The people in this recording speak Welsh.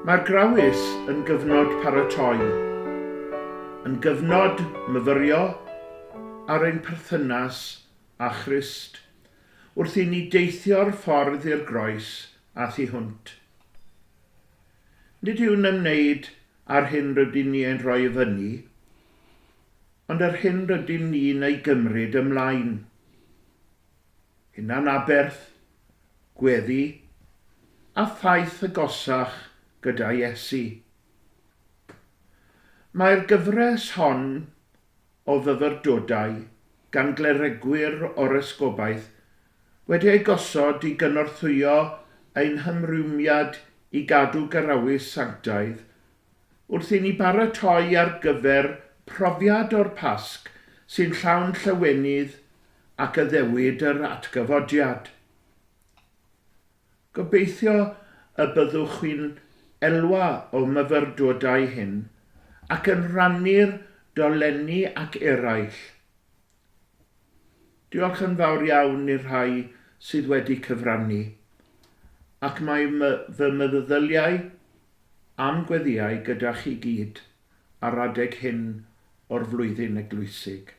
Mae'r Grawys yn gyfnod paratoi, yn gyfnod myfyrio ar ein perthynas â Christ, wrth i ni deithio'r ffordd i'r groes a thu hwnt. Nid yw'n ymwneud â'r hyn rydyn ni ein rhoi i fyny, Ond yr hyn rydyn ni'n ei gymryd ymlaen, hunanaberth, gweddi, a thaith agosach gyda Iesu. Mae'r gyfres hon o fyfyrdodau gan gleregwyr o'r Esgobaeth wedi eu gosod i gynorthwyo ein hymrwymiad i gadw garawys sanctaidd wrth i ni baratoi ar gyfer profiad o'r Pasg sy'n llawn llawenydd ac addewid yr atgyfodiad. Gobeithio y byddwch chi'n elwa o'm myfyrdodau hyn ac yn rhannu'r dolenni ac eraill. Diolch yn fawr iawn i'r rhai sydd wedi cyfrannu, ac mae fy meddyddyliau a'm gweddïau gyda chi gyd ar adeg hyn o'r flwyddyn eglwysig.